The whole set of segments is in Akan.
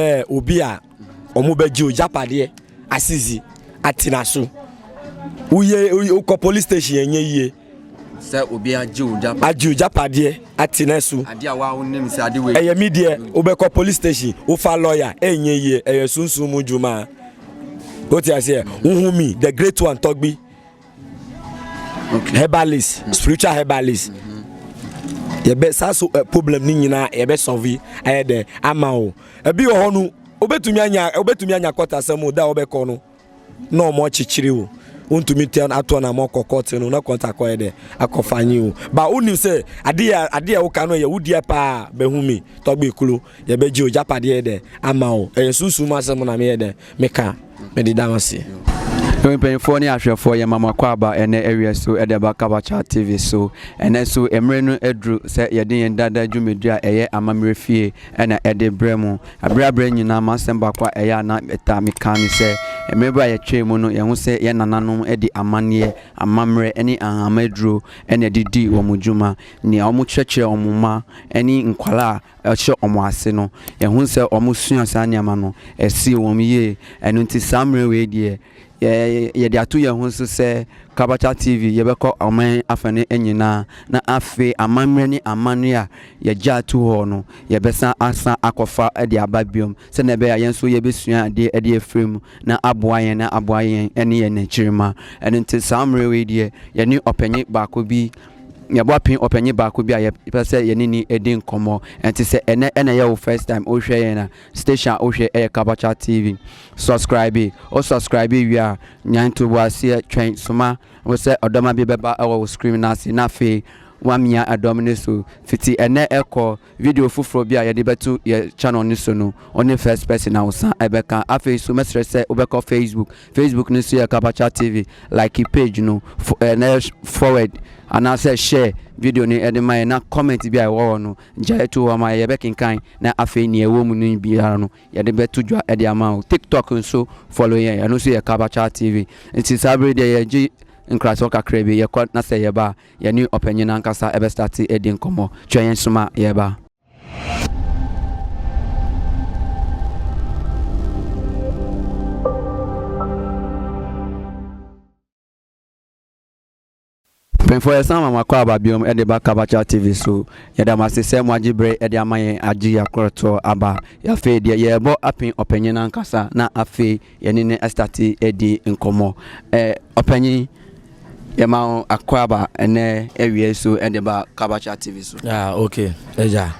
ɛɛ obi a wɔn bɛ gye o japadeɛ asisi atena so woyɛ wokɔ police station yɛn nyɛ yie sɛ obi agye o japadeɛ agye o japadeɛ atena so adeɛ a wa wonim sɛ ade wei ɛyɛ mi deɛ wobɛkɔ police station wofa lawyer ɛnyɛ yie ɛyɛ sunsun mu dwuma o ti aseɛ wohu mi the great one tɔgbi. okay. herbalist mm. spiritual herbalist mm-hmm. yɛbɛ saa so uh, problem ne nyinaa yɛbɛ sɔvi ɛyɛ dɛ ama o ebi wɔ hɔ no obetumi anya obetumi anya kɔtasɛm o da a ɔbɛkɔ no na ɔmo akyekyere o wontumi tɛ atoɔ na mɔkɔ kɔte no na kɔnta kɔyɛ dɛ akɔfa nye o ba wonim sɛ adeɛ adeɛ woka no yɛ wodeɛ paa bɛhu me tɔgbe kuro yɛbɛgye o gyapadeɛ dɛ ama o ɛyɛ sunsum asɛm na meyɛ dɛ Meka, mede da wase. Ewe mpanyinfoɔ ne ahwɛfoɔ yɛma mo akwaaba ɛnɛ awia so ɛde aba Kabachat TV so. Ɛnɛ so mmere no aduru sɛ yɛde yɛn dada dwumadie a ɛyɛ Amammerɛ Fie ɛna ɛde brɛ mo. Abrɛ abrɛ nyinaa m'asɛm baako a ɛyɛ a na metaa meka ne sɛ mmere bi a yɛtwee mu no yɛhu sɛ yɛn nananom de amanneɛ, amammerɛ ɛne ahama aduro ɛna ɛde dii wɔn dwuma. Nea wɔkyerɛkyerɛ wɔn mma ɛne nkwadaa a. hyɛ wɔn ase no, yɛhu sɛ wɔsua saa nneɛma no, ɛsee wɔn yie. Ɛno nti saa mmerɛ wei deɛ, yɛde ato yɛn ho so sɛ Kabata TV yɛbɛkɔ ɔman afa no nyinaa, na afei amammerɛ ne amanneɛ a yɛgyaa to hɔ no, yɛbɛsan asan akɔfa de aba biom, sɛdeɛ ɛbɛyɛ a yɛn nso yɛbɛsua adeɛ de afiri mu na aboa yɛn na aboa yɛn ne yɛn nkyirimma. Ɛno nti saa mmerɛ wei deɛ, yɛne ɔpanin baako bi, yɛboa pin ɔpanyin baako bi a yɛpɛ sɛ yɛne ni di nkɔmmɔ ɛnti sɛ ɛnɛ ɛna ɛyɛ wo first time wohwɛ yɛn a station a wohwɛ ɛyɛ kabacha tv subscribe o subscribe wie a nyan ntoboaseɛ twɛn soma wo sɛ ɔdɔma bi bɛba ɛwɔ wo screen no ase na afei wamia ɛdɔm no so fiti ɛnɛ ɛkɔ video foforɔ bi a yɛde bɛto yɛ channel no so no ɔne first person a wosan ɛbɛka afei so mɛsrɛ sɛ wobɛkɔ facebook Facebook no so yɛ Kapacha TV. Like page no na yɛ forward anaasɛ share video no de ma yɛ na comment bi a ɛwɔ hɔ no gyae to hɔ ma yɛbɛkenkan na afei nea ɛwɔ mu no biara no yɛde bɛto dwa de ama wo. TikTok nso follow yɛn, ɛno nso yɛ Kapacha TV. Nti saa bere deɛ yɛgye nkrasɔ kakra bi yɛkɔ na sɛ yɛba a yɛne ɔpanyin ankasa ɛbɛstate adi nkɔmmɔ. Twɛn yɛn soma yɛba. Mpanyinfoɔ yɛsan ama mo akwaaba biom ɛde ba Kabacha TV so. Yɛda mo ase sɛ mo agye bere ɛde ama yɛn agye yɛakorɔtoɔ aba. Afei deɛ yɛrebɔ apen ɔpanyin ankasa na afei Yɛne no astate di nkɔmmɔ. Ɔpanyin, yɛma wo akwaaba ɛnɛ awia so de ba Kabacha TV so. Ah, okay, agya.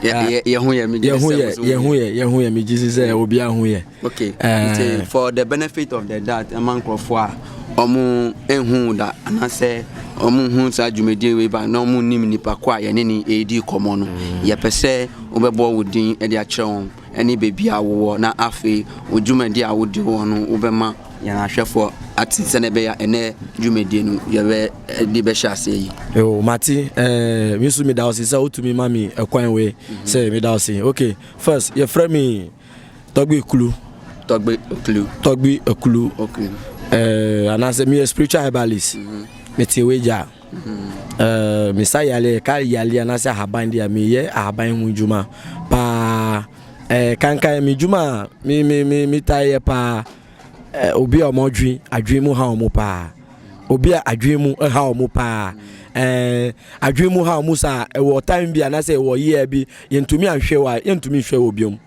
Yɛ ho yɛ, megye sɛ yɛ ho yɛ, yɛ ho yɛ, megye sɛ obi aho yɛ. Okay, nti for the benefit of the that, ɛma nkurɔfoɔ a wɔn ehu da anaasɛ wɔn hu saa dwumadie wei ba na wɔn nim nipa ko a yɛne ne ɛredi kɔmmɔ no, yɛpɛ sɛ wobɛbɔ wo din de akyerɛ wɔn. ne baabi a wowɔ, na afei wo dwumadi a wode wɔ no, wobɛma yɛn ahwɛfoɔ ate sɛdeɛ ɛbɛyɛ a ɛnɛ dwumadie no yɛbɛde bɛhyɛ aseɛ yi. Yo, mate, eh, me nso meda wo se sɛ wotumi ma me ɛkwan wei sɛ meda wo se. Okay, first, yɛfrɛ me Tɔgbe Kulu. Tɔgbe Kulu. Tɔgbe Kulu. Okay. Eh, anaasɛ meyɛ spiritual herbalist. Mm -hmm. Mete wei gya. Mesa yale ɛka yale anaasɛ ahaban deɛ meyɛ ahaban ho dwuma paa kankan me dwuma a me me me metae yɛ paa obi a wɔn adwi adwi mu ha wɔn paa obi a adwi mu ha wɔn paa ɛɛ adwi mu ha wɔn saa ɛwɔ time bi anaasɛ ɛwɔ year bi yɛntumi anhwɛ wa yɛntumi nhwɛ wɔ biom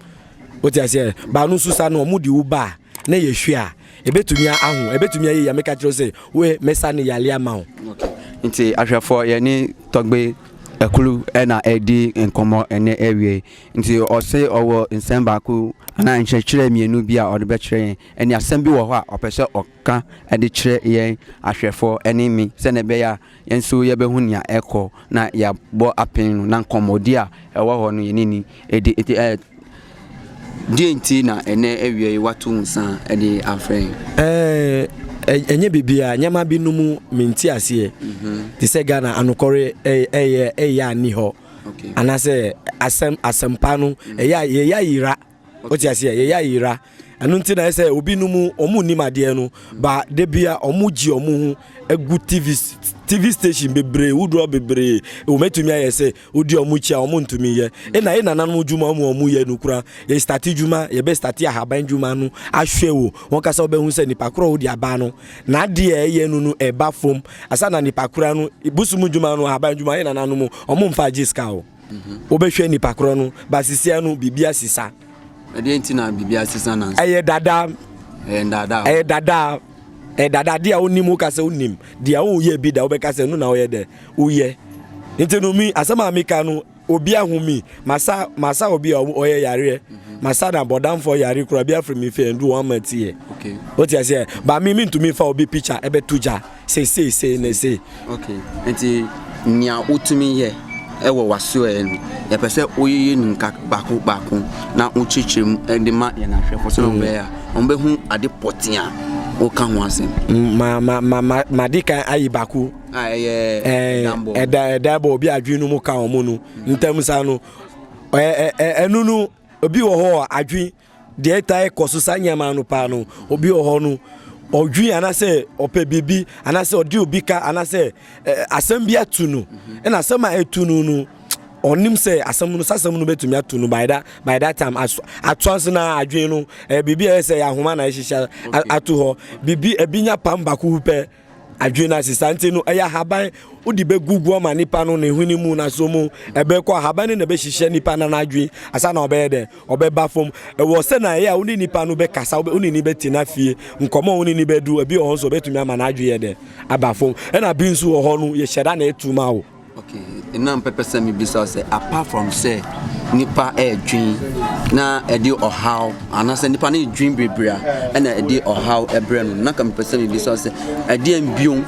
wote aseɛ baanu nso saa no wɔn de wo baa na yɛhwɛ a, ɛbɛtumi aho, ɛbɛtumi ayɛ yi a meka kyerɛ wo sɛ we mɛsa ne yale ama wo. Nti ahwɛfoɔ yɛne tɔgbe akulu na ɛredi nkɔmmɔ ɛnɛ awie nti ɔse ɔwɔ nsɛm baako anaa nkyerɛkyerɛ mmienu bi a ɔde bɛkyerɛ yɛn ɛne asɛm bi wɔ hɔ a ɔpɛ sɛ ɔka ɛde kyerɛ yɛn ahwɛfoɔ ɛne me sɛnɛ ɛbɛyɛ a Yɛn nso yɛbɛhu nea ɛrekɔ na yɛabɔ apɛn no na nkɔmmɔdi a ɛwɔ hɔ no yɛn ani di. Enti ɛɛ, deɛn nti na ɛnnɛ awia yi woato nsa de afrɛ yɛn? Ɛɛ, ɛnyɛ biribiara, nneɛma bi no mu me nte aseɛ. Mhm. Te sɛ Ghana anokɔre ɛyɛ ɛyɛ a nni hɔ. Okay. Anaasɛ asɛm asɛmpa no ɛyɛ a yɛyɛ ayera. wote aseɛ yɛyɛ ayera ɛno nti na ɛyɛ sɛ obi no mu ɔmo nnim adeɛ no ba da bia ɔmo gye ɔmo ho agu tv tv station bebree wodoɔ bebree wɔmɛtumi ayɛ sɛ wodi ɔmo kyi a ɔmo ntumi yɛ ɛna yɛ nananom dwuma ɔmo ɔmo yɛ no kura yɛ starte dwuma yɛbɛ starte ahaban dwuma no ahwɛ wo wɔn kasa wobɛhu sɛ nipa korɔ wode aba no na adeɛ ɛyɛ no no ɛba fam asa na nipa kora no bosom dwuma no ahaban dwuma yɛ nananom ɔmo mfa agye sika o Mhm. wobɛhwɛ nipa korɔ no basisia no biribi asesa ɛdeɛ nti na biribi asesa na ɛyɛ dada ɛyɛ dada ɛyɛ dada ɛyɛ dada adeɛ a wonim woka sɛ wonim deɛ woyɛ bi da wobɛka sɛ no na woyɛ dɛ woyɛ nti no mi asɛm a meka no obi ahu mi masa masa obi a ɔyɛ yareɛ mhm. masa na bɔdamfoɔ yare kora bi afiri mi fɛ ndu wɔn ama tiɛ wote aseɛ ba mi mi ntumi fa obi picture ɛbɛto gya Sei sei sei ne sei. Ok, nti nea wotumi yɛ wɔ w'asoɛɛ no, yɛpɛ sɛ woyeyɛ no nka baako baako na wokyerɛkyerɛ mu de ma yɛn ahwɛfo sɛ mm. wɔbɛyɛ a wɔbɛhu ade pɔtee a woka ho asɛm. Mm, ma ma ma ma madi kan ayi baako. a ah, ɛyɛ ɛdambɔ ɛda ɛdambɔ obi adwene no mu ka wɔn no mm. ntam saa no ɛnunu obi wɔ hɔ adwene Deɛ ɛtae kɔ so saa nneɛma no paa no, obi wɔ hɔ no, ɔdwi anaasɛ ɔpɛ biribi anaasɛ ɔde obi ka anaasɛ eh, asɛm bi atu no ɛna asɛm a ɛtu no no ɔnim sɛ asɛm no sɛ asɛm no bɛtumi atu no by that by that time atoa nso na adwene no eh, biribi a ɛyɛ sɛ yɛ ahoma na ɛhyehyɛ ato hɔ biribi ebi nya pam baako pɛ Adwene no ase saa nti no ɛyɛ ahaban wode bɛgugu ama nipa no ne hwene mu na so mu ɛbɛkɔ ahaban no na ɛbɛhyehyɛ nipa no n'adwene asa na ɔbɛyɛ dɛ ɔbɛba fam ɛwɔ sɛ na ɛyɛ a wo ne nipa no bɛkasa wo ne ni bɛtena fie nkɔmɔ wo ne ni bɛdu ebi wɔ hɔ nso ɔbɛtumi ama n'adwene yɛ dɛ aba fam ɛna bi nso wɔ hɔ no yɛhyɛ da na ɛtu ma wo Okay, na mpɛpɛ sɛ mebisa sɛ apart from sɛ nipa ɛredwen na ɛde ɔhaw anaasɛ nipa no ɛredwen bebree a ɛna ɛde ɔhaw ɛbrɛ no na ka mepɛ sɛ mebisa sɛ ɛdeɛ mbio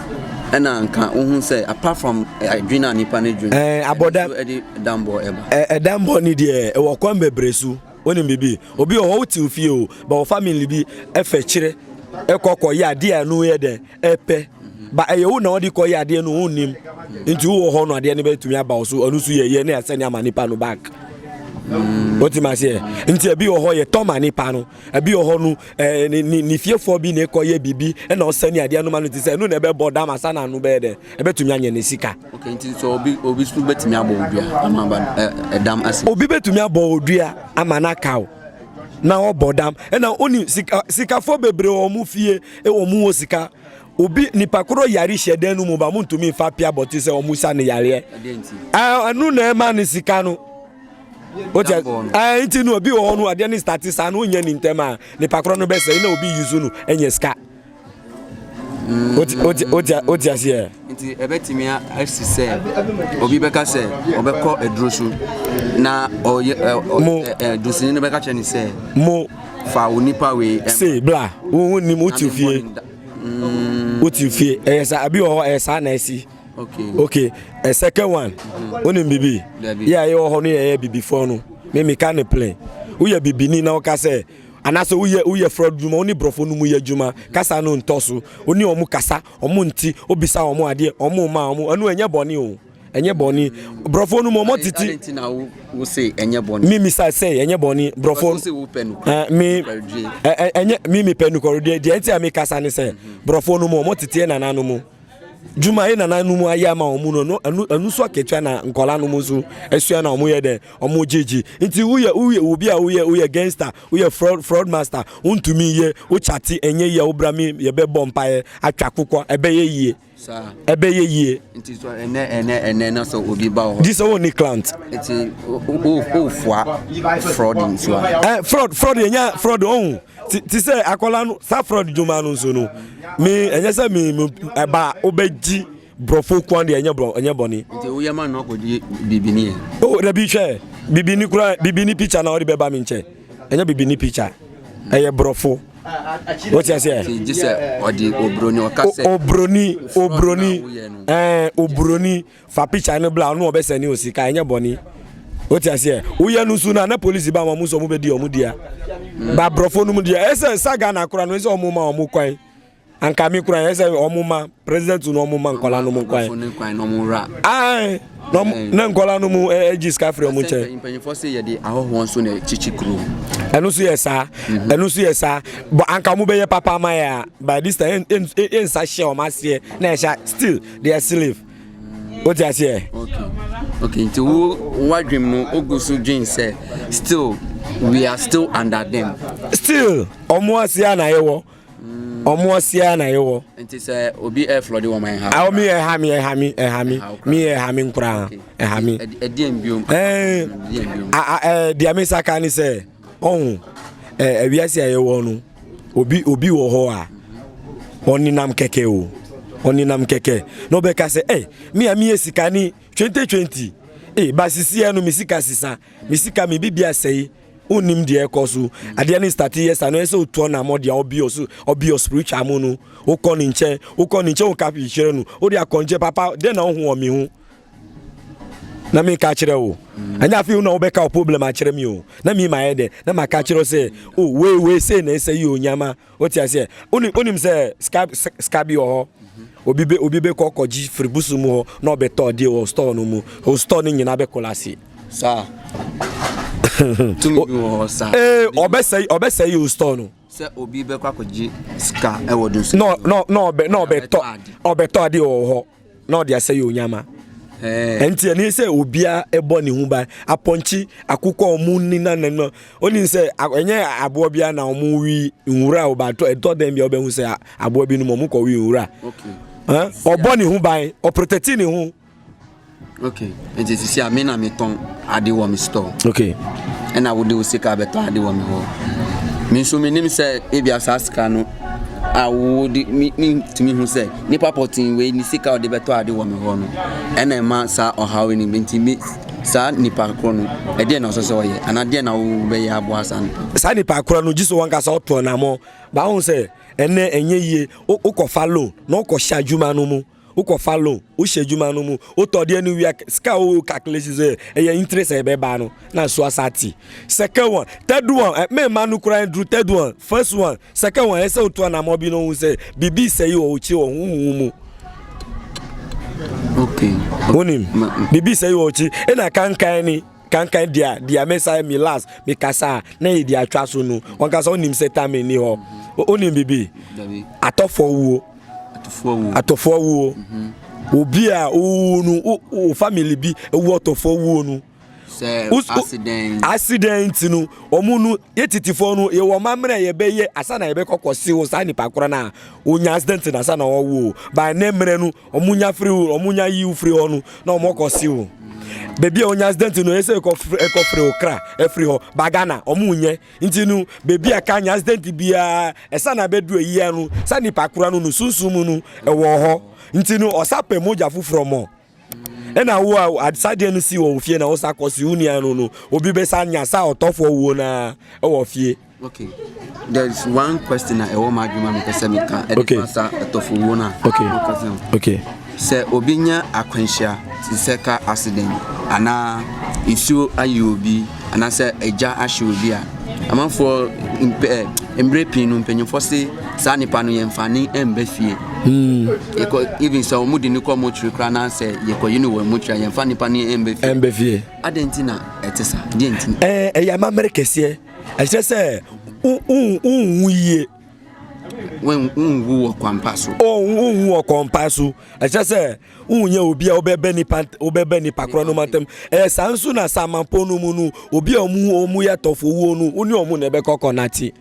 ɛna nka wohu sɛ apart from ɛdwen a nipa no ɛdwen eh, abɔda ɛde dambɔ ɛba eh, ɛdambɔ ne deɛ ɛwɔ kwan bebree so wonim biribi obi wɔ hɔ wotew fie o ba wɔ family bi ɛfɛ kyerɛ ɛkɔkɔ yɛ adeɛ a ɛno yɛ dɛn ɛpɛ ba ɛyɛ wo na ɔde kɔ yɛ adeɛ no wo nim nti wowɔ hɔ no adeɛ no bɛtumi aba wo so ɔno so yɛ yɛ ne asɛne ama nipa no back wotim aseɛ nti ebi wɔ hɔ yɛ tɔma nipa no ebi wɔ hɔ no ɛɛ ne ne ne fiefoɔ bi na ɛkɔ yɛ biribi ɛna ɔsɛne adeɛ no ma no ti sɛ ɛno na ɛbɛbɔ dam asa na ano bɛyɛ dɛ ɛbɛtumi anyɛ ne sika. okay nti sɛ obi obi so bɛtumi abɔ odua ama ba ɛdam ase. obi bɛtumi abɔ odua ama n'aka o. na ɔbɔ dam ɛna ɔni sika sikafo bebree wɔ wɔn fie wɔn wɔ sika obi nipa koro yare hyɛ dan no mu ba mo ntumi nfa pia bɔte sɛ wɔn sa ne yareɛ ɛnu na ɛma ne sika no o tɛ ɛɛ nti no obi wɔ hɔ no adeɛ ne stati saa no onyɛ ne ntɛm a nipa koro no bɛsɛ ɛna obi yi so no ɛnyɛ sika. Wote aseɛ? Nti ɛbɛtumi asi sɛ obi bɛka sɛ ɔbɛkɔ aduro so na dosini no bɛka kyerɛ ne sɛ mo fa wo nipa wei se bla wonim wote fie mm. wote fie ɛyɛ saa abi wɔ hɔ ɛyɛ saa na ɛsi okay okay a second one wonim bibi yɛ a yɛwɔ hɔ no yɛyɛ bibifoɔ no me meka ne plane woyɛ bibini na woka sɛ Anaasɛ wo yɛ wo yɛ fraud dwuma wo ne brɔfo no mu yɛ dwuma kasa no ntɔ so wo ne ɔmo kasa ɔmo nti wo bisa ɔmo adeɛ ɔmo ma ɔmo ɛno ɛnyɛ bɔne o ɛnyɛ bɔne brɔfo no mu ɔmo tete Ɛdɛn nti na wo wo se ɛnyɛ bɔne? mi misa sɛ ɛnyɛ bɔne brɔfo Because wo se wo pɛ nukuri ɛɛ mi nukuri die. ɛ ɛ ɛnyɛ mi mi pɛ nukuri die deɛ nti a mi kasa ne sɛ brɔfo no mu ɔmo tete nana no mu. dwuma yɛ nana no mu ayɛ ama wɔn no no ɛnu ɛnu so akatua na nkɔla no mu nso ɛsua na wɔn yɛ dɛ wɔn gyegye nti woyɛ woyɛ obi a woyɛ woyɛ gangster woyɛ fraud fraud master wontumi yɛ wokyate ɛnyɛ yie a wobra mi yɛbɛ bɔ mpaeɛ atwa kokɔ ɛbɛyɛ yie ɛbɛyɛ yie. nti so ɛnɛ ɛnɛ ɛnɛ na sɛ obi ba wɔ hɔ. disɛ wɔn ni client. nti o o o fua fraud nsuwa. ɛ fraud fraud yɛ nya fraud ɔhun. te sɛ akwadaa no safrod dwuma no nso no me ɛnyɛ sɛ me ɛba wobɛgye borɔfo kwan deɛ ɛnyɛ borɔ ɛnyɛ bɔne. nti woyɛ ma no akɔgye bibini yɛ. o oh, dabi hwɛ bibini kura bibini picture na ɔde bɛba me nkyɛn ɛnyɛ bibini picture ɛyɛ borɔfo wọ́n ti ase ẹ̀. ti jí sẹ ọdi obroni ọka sẹ. obroni obroni ẹẹ obroni fa picture no bla ɔno ɔbɛ sɛne osika ɛnyɛ bɔne wote aseɛ woyɛ no nso no na polisi ba ma ɔmo sɛ ɔmo bɛdi ɔmo dea ba borɔfo no mu deɛ ɛsɛ sa ghana kora no ɛsɛ ɔmo ma ɔmo kwan anka me kora ɛsɛ ɔmo ma president no ɔmo ma nkɔla no mu kwan ae na nkɔla no mu ɛgye sika firi ɔmo nkyɛn mpanyinfoɔ sɛ yɛde ahɔhoɔ nso na kyikyi kuro ɛno nso yɛ saa ɛno nso yɛ saa bɔ anka ɔmo bɛyɛ papa ama yɛ a by this time ɛnsa hyɛ ɔmo aseɛ na ɛhyɛ still they are slave o ti aseɛ. ok nti wo wadwem no o gu so dwen sɛ still we are still under them. still ɔmo ase a na yɛ wɔ ɔmo ase a na yɛ wɔ. nti sɛ obi ɛ flɔ de wɔn ɛ ha. awo mi ɛ ha mi ɛ ha mi ɛ ha mi mi ɛ ha mi nkura ɛ ha mi. ɛdiɛ mbiom. ɛɛ ɛɛ diɛ mi saka ni sɛ ɔhun ɛ ɛwiase a yɛ wɔ no. obi obi wɔ hɔ a ɔnenam kɛkɛ o ɔnenam kɛkɛ na ɔbɛka sɛ ɛ me a meyɛ sika ne twente twenti e eh, ba sisiɛ no me sika sisa me sika me bibi asɛe wonim deɛ ɛkɔ so adeɛ ne starte yɛ sa no ɛsɛ wotuɔ na mɔ deɛ ɔbi ɔso ɔbi ɔ spiritual mu no wokɔ ne nkyɛn wokɔ ne nkyɛn woka hwehwere no wode akɔnkyɛ papa dɛn na wohu wɔ me ho na meka akyerɛ wo ɛnyɛ afei na wobɛka wo problem akyerɛ me o na mi mayɛ dɛ na maka akyerɛ wo sɛ o oh, wei wei sei na ɛsɛ yi o nyama wote aseɛ wonim sɛ sika bi wɔ hɔ obi bɛ obi bɛkɔ kɔgye firi busu mu hɔ na ɔbɛtɔ adeɛ wɔ store no mu o store no nyinaa bɛkɔla ase saa tumi bi wɔ hɔ saa ee ɔbɛsɛe ɔbɛsɛe o store no sɛ obi bɛkɔ akɔgye sika ɛwɔ do so na ɔbɛtɔ adeɛ wɔ hɔ na ɔde asɛ yɛ onyama ɛnti ɛne sɛ obia ɛbɔ ne ho ban apɔnkye akokɔ ɔmo ni na ne no oni sɛ ɛnyɛ aboɔ bia na ɔmo wi nwura ɔba ɛtɔ dɛn bia ɔbɛhu sɛ aboɔ bi no ɔmo kɔ wi nwura ɔbɔ ne ho ban ɔprotɛti ne ho okay nti sisi a me na metɔn ade wɔ me store okay ɛna wode wo sika bɛtɔ ade wɔ me hɔ me nso menim sɛ ebia saa sika no a wode mentumi hu sɛ nipa pɔten wei ne sika ɔde bɛtɔ ade wɔ me hɔ no ɛna ɛma saa ɔhaw no nti me saa nipa korɔ no ɛdeɛ na ɔsɛ sɛ ɔyɛ anaa deɛ na wobɛyɛ aboa saa nipa saa nipa korɔ no gye so wankasa ɔtɔ namɔ baa ho sɛ ɛnɛ ɛnyɛ yie wokɔfa loan na wokɔhyɛ adwuma no mu wokɔ fa loan, wohyɛ adwuma no mu, wotɔ deɛ no wia sika a wo calculation sɛ ɛyɛ interest a ɛbɛba no na nso asa te. Second one, third one, eh, me ma no koraa nduru third one, first one, second one, ɛsɛ wotu anamɔ bi no ho sɛ biribi sɛ yi wɔ wo kyi wɔ ho ho mu. Okay. Wonim, biribi sɛ yi wɔ wo kyi, ɛna kankan ni. Kankan deɛ a, deɛ me sa me last me kasa a na yɛ deɛ atwa so no. Wɔn kasa onim sɛ tame ni hɔ. Onim bibi. Atɔfoɔ wuo. Atɔfoɔ wuo. Mhm. Obi a owuo no o family bi ewu atɔfoɔ wuo no. Sɛ accident. Accident no wɔn no. Yɛ titefɔɔ no yɛ wɔn amena a yɛbɛyɛ asa na yɛbɛkɔ kɔ si wo saa nipa korɔ no a onya accident na asa na ɔwo o by ne mmerɛ no wɔn nya firi wo wɔn nya yi wo firi hɔ no na wɔn kɔ si wo beebi a onya accident no ɛsɛ ɛkɔ firi ɛkɔ firi wo kra ɛfiri hɔ ba Ghana wɔn nyɛ nti no beebi a ka nya accident biara ɛsa na bɛdu ayia no sa nipa korɔ no no sunsun mu no ɛwɔ hɔ nti no ɔsa pɛ mogya foforɔ mɔ. Ɛna wo a adesadeɛ no si wɔ wo fie na wosa kɔsi wo nua no no obi bɛsa nya sa ɔtɔfoɔ wuo no ara wɔ fie. Okay. There is one question na ɛwɔ mu adwuma mi pɛsɛ mi ka ɛde fa sa ɛtɔfo wuo na. Okay. Okay. Sɛ obi nya akwanhyia sɛ ka accident anaa nsuo ayi obi. anaasɛ agya ahye obi a, amanfoɔ mpɛ ɛ mmerɛ pii no mpanyinfoɔ se saa nipa no yɛmfa ne mba fie. Hmm. Yɛkɔ even sɛ wɔn de ne kɔ motiri koraa na sɛ yɛkɔ yi ne wɔ motiri a yɛmfa nipa no mba fie. Mba fie. Adɛn nti na ɛte sa? Deɛ nti? Ɛɛ ɛyɛ amammerɛ kɛseɛ. Ɛkyerɛ sɛ wonwu yie. wonwu wɔ kwampa so. wonwu wɔ kwampa so ɛkyɛ sɛ wonyɛ obi a wobɛbɛ nipa wobɛbɛ nipa korɔ no mantam ɛyɛ saa nso na samanpɔn no mu no obi a ɔmu ɔmu yɛ tɔfo wuo no wone ɔmu na ɛbɛkɔ kɔ nate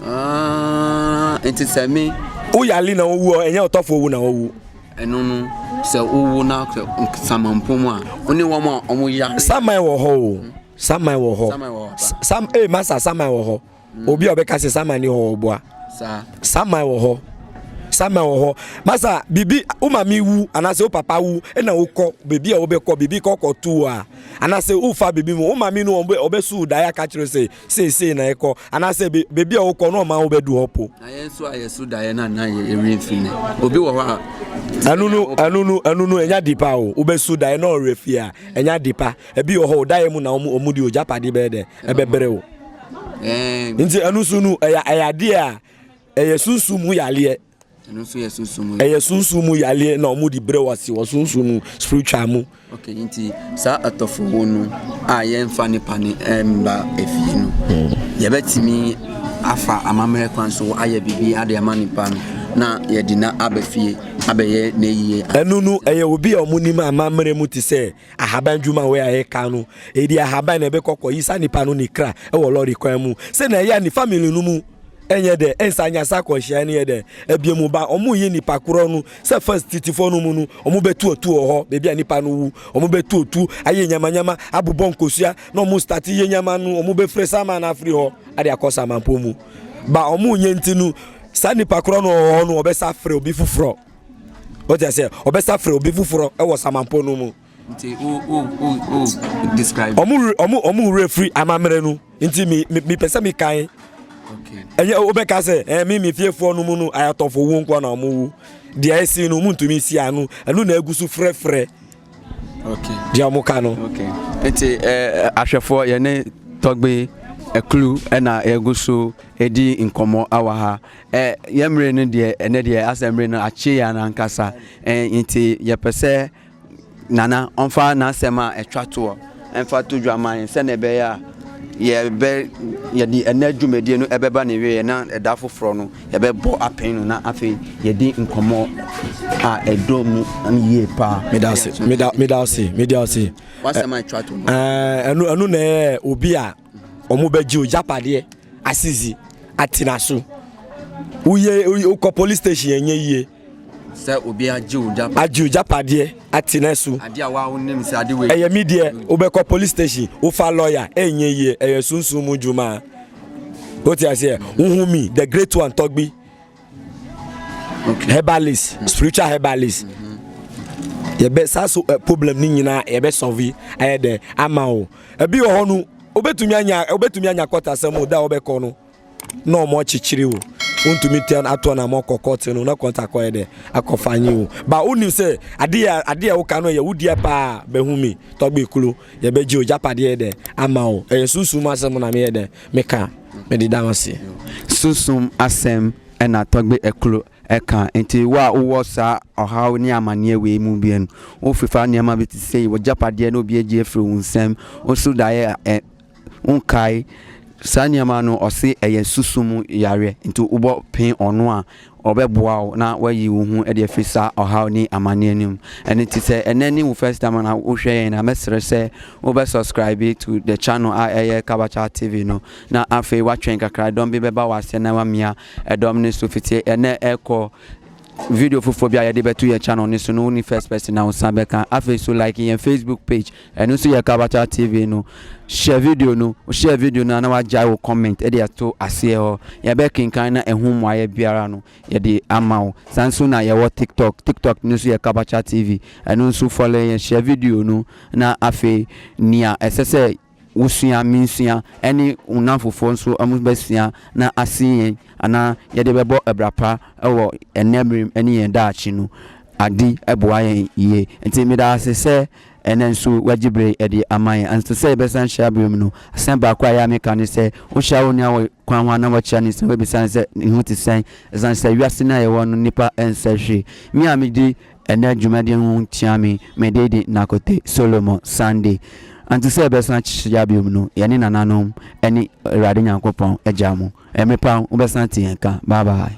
ah, nti sɛ me woyale na wowu ɛnyɛ ɔtɔfo wu na wowu ɛno no sɛ wowu na samanpɔn mu a wone wɔn a wɔyɛ saman wɔ hɔ o saman wɔ hɔ sam ee eh, masa saman wɔ hɔ obi a ɔbɛka sɛ saman ni hɔ ɔboa saman wɔ hɔ saman wɔ hɔ masa biribi wo maame wu anaasɛ wo papa wu ɛna wokɔ biribi a wobɛkɔ biribi kɔkɔ tu a anaasɛ wofa biribi mu wo maame no ɔbɛsu daeɛ aka kyerɛ sɛ seesei na ɛkɔ anaasɛ biribi a wokɔ no ɔma wobɛdu hɔ po ɛno no ɛno no ɛno no ɛnya dipa o wobɛsu daeɛ na ɔwerɛ fie a ɛnya dipa ebi wɔ hɔ o daeɛ mu na ɔmu de ogyapade bɛɛ dɛ ɛbɛbrɛ o nti ɛno nso no ɛyɛ ayadeɛ a ɛyɛ sunsum mu yaleɛ ɛno nso yɛ sunsun mu ɛyɛ sunsun mu yaleɛ na wɔn de brɛ wɔ ase wɔ sunsun mu spiritual mu. ok nti saa atɔfowo no a yɛnfa nipa ne mba efie no hmm. yɛbɛtumi afa amammerɛ kwan so ayɛ biribi ade ama nipa no na yɛde na aba fie abɛyɛ n'ayie. ɛnu no ɛyɛ obi a wɔn nim amammerɛ mu te sɛ Ahaban dwuma wei a yɛka no, ɛdi ahaban na ɛbɛkɔ kɔ yi saa nipa no ne kra wɔ lɔre kwan mu. Sɛ na ɛyɛ a ne family no mu ɛnyɛ dɛ ɛnsa nya saa akwanhyia no yɛ dɛ ɛbia mu ba wɔn yi nipa korɔ no sɛ first titifoɔ no mu no wɔn bɛtu otu wɔ hɔ baabi a nipa no wu wɔn bɛtu otu ayɛ nyamanyama abobɔ nkosua na wɔn start yɛ nyama no wɔn bɛfire sama no afiri hɔ ade akɔ samanpɔ mu ba wɔn nyɛ nti no saa nipa korɔ no wɔ hɔ no wɔbɛsa frɛ obi foforɔ. wote aseɛ ɔbɛsa frɛ obi foforɔ wɔ samanpɔ no mu nti o o o o describe. ɔmo ɔmo ɔmo wura firi amammerɛ no nti mi mi mi pɛ sɛ mi kan. ɛnyɛ wobɛka sɛ ɛɛ mi mi fiefoɔ no mu no ayatɔfo wu nkɔ na ɔmo wu deɛ esi no ɔmo ntumi si ano ɛno na egu so frɛfrɛ. deɛ ɔmo ka no. nti ɛɛ ahwɛfoɔ yɛne tɔgbe ɛkulu ɛna egu so edi nkɔmɔ awa ha. Ɛ, yɛn mmere no deɛ, ɛnɛ deɛ asɛ mmere no akye yɛn ankasa. Ɛ, nti yɛpɛ sɛ Nana ɔmfa n'asɛm a ɛtwa toɔ ɛmfa to dwa ma yɛn sɛdeɛ ɛbɛyɛ a yɛbɛ yɛde ɛnɛ dwumadie no ɛbɛba ne wieɛ na ɛda foforɔ no yɛbɛbɔ apɛn no na afei yɛdi nkɔmmɔ a ɛdɔ mu yie paa. meda ase meda meda ase meda ase. wasɛm a ɛtwa to. ɛno ɛno na ɛyɛ obi a. wɔbɛgye wo gyapadeɛ asisi atena so woyɛ wokɔ police station ɛnyɛ yie sɛ obi agye wo gyapadeɛ agye wo gyapadeɛ atena so adeɛ a wa wonim sɛ ade wei ɛyɛ mi deɛ wobɛkɔ police station wofa lawyer ɛnyɛ yie ɛyɛ sunsun mu dwuma wote aseɛ wohu mi the great one tɔgbi okay. herbalist mm. spiritual herbalist mm -hmm. yɛbɛ saa so uh, problem ne nyinaa yɛbɛ sɔvi ɛyɛ dɛ ama o ebi wɔ hɔ no obetumi anya obetumi anya kɔtasɛm o da a ɔbɛkɔ no na ɔmo akyekyere o wontumi tɛn ato na mo kɔ kɔɔte no na kɔnta kɔɛ dɛ akɔfa anyi o ba wonim sɛ adeɛ adeɛ woka no yɛ wodeɛ paa bɛhu mi tɔgbe kuro yɛbɛgye o gyapadeɛ dɛ ama o ɛyɛ sunsun mu asɛm na meyɛ dɛ Me ka, me de da wase. Sunsum asɛm na Tɔgbe Ɛklo ɛka. Nti wo a wowɔ saa ɔhaw ne amaneɛ wei mu bi no, wo fefa nneɛma bi te sei, wo gyapadeɛ na obi agye afiri wo nsam, wo so daeɛ a ɛ, wo nkae saa nneɛma no, ɔse ɛyɛ sunsum yareɛ, nti wobɔ pee ɔno a, Ɔbɛboa wo na woayi wo ho de afiri saa ɔhaw ne amaneɛ no mu. Ɛno nti sɛ ɛnɛ ne wo first time na wohwɛ yɛn a, mɛsrɛ sɛ wobɛ subscribe to the channel a ɛyɛ Kabakya TV no, na afei woatwɛn kakra dɔm bi bɛba w'aseɛ na woamia ɛdɔm no so fiti ɛnɛ ɛkɔ. Video foforɔ bi a yɛde bɛto yɛn channel no so no, wone first person a wosan bɛka. Afei nso like yɛn Facebook page Ɛno nso yɛ Kabata TV no. Share video no, wo share video no a na wagyae wo comment de ato aseɛ hɔ. Yɛbɛkenkan na ɛho mmuaeɛ biara no yɛde ama wo. Saa nso na yɛwɔ TikTok. TikTok no nso yɛ Kabata TV. Ɛno nso follow yɛn, share video no na afei nea ɛsɛ sɛ wosua, mensua, ɛne wo nnamfofoɔ nso wɔbɛsua na asen yɛn anaa yɛde bɛbɔ abira pa wɔ ɛnnɛ mmerem ne yɛn daakye no. Ade boa yɛn yie. Nti meda wo ase sɛ Ɛnnɛ nso woagye bere de ama yɛn. Ansa sɛ yɛbɛsan ahyia bere mu no, asɛm baako a ɛyɛ a meka ne sɛ, wohyia wo nua wɔ kwan ho a, na woakyia no nsɛm, wobisa no sɛ ne ho te sɛn, esiane sɛ wiase no a yɛwɔ no nnipa nsɛ hwee. Me a midi ɛnnɛ dwumadi no ho nkyia me, me din de Nakote Solomon Sande. Ansa sɛ yɛbɛsan ahyia bio no, yɛne nananom ne Awurade Nyankopɔn gyaa mo. Ɛmepa, wobɛsan ate yɛn nka. Bye bye.